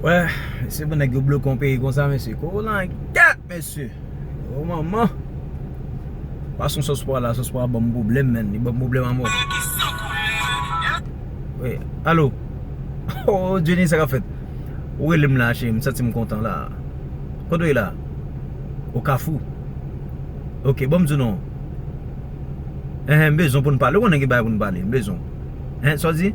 Wè se pou nèg yo bloke yon peyi konsa mesye kolangyèt mesye o manman pa sou sos pwa la sos pwa banm pwoblèm menn li banm pwoblèm amò wi alo o Jenny sa kap fèt ou relem la cheri m santim kontan la kot ou ye la o kafou ok banm di w non enhen m bezwen poun pale ou konnen gen bagay poun pale m bezwen w enhen sa w di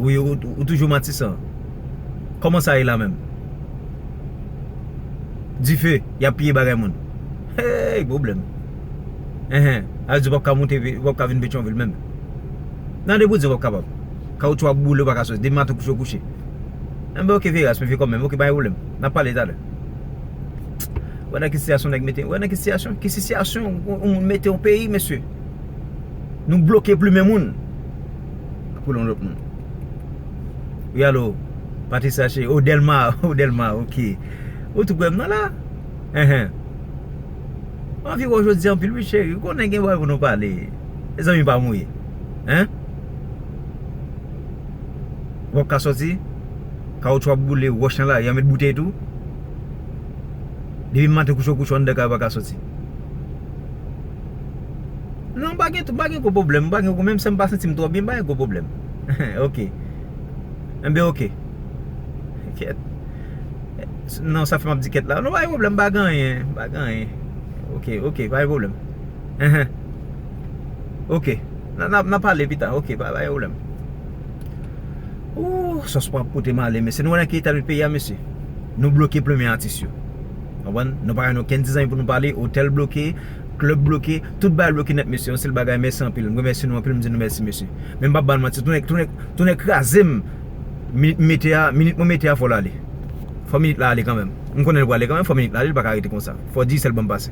Wi ou toujou matisan Koman sa ye la menm Dife yap piye bagay moun Heyy pwoblèm Enhen Sa vle di ou pap ka moute ou pap ka vin petyonvil menm Nan depi ou di ou pap kapab Kawoutchou ap boule ou pa ka soti depi maten ou kouche ou kouche Enben ok veye a se mwen veye kòm menm ok pa gen pwoblèm Nap pale talè Ou wè nan ki sitiyasyon nèg mete ou wè nan ki sitiyasyon ki sitiyasyon yon moun mete yon peyi mesye Nou bloke plumen moun Pou yon lòt moun Wi alo Patrice Larcher Oh Delma Oh Delma ok Ou tou prèm nan la Enhen Mwen anvi wèw jodi a anpil wi cheri Ou konnen gen bagay pou nou pale E zanmi pam ou ye Hein Wap ka soti Kawoutchou ap boule Wòch nan lari an met boutèy tou Depi maten kouchou kouchou anndan kay ou pa ka soti. Non m pa gen m pa gen gwo pwoblèm m pa gen menm si m pa santi m twò byen m pa gen gwo pwoblèm ok enben ok kèt non sa fè m ap di kèt la non pa gen pwoblèm m pa gen anyen m pa gen anyen ok ok pa gen pwoblèm enhen ok n ap pale pita ok pa gen pwoblèm ooh sòs pwa ap pote m ale mesye nou wè nan ki eta nou ye peyi a mesye nou bloke plenmen atis yo Konprann? Nou pa gen okenn ti zanmi pou nou pale, otèl bloke, klèb bloke, tout bagay bloke nèt mesye, yon sèl bagay mèsi anpil, m remèsye nou anpil m di nou mèsi mesye. Men m pap ba nou manti, tou nèg kraze m, minit m mete a, minit mwen mete a fò l ale. Fò minit la ale kanmèm. M konnen l pral ale kanmèm, fò minit la ale, li pa ka rete konsa. Fò Digicel ban m pase.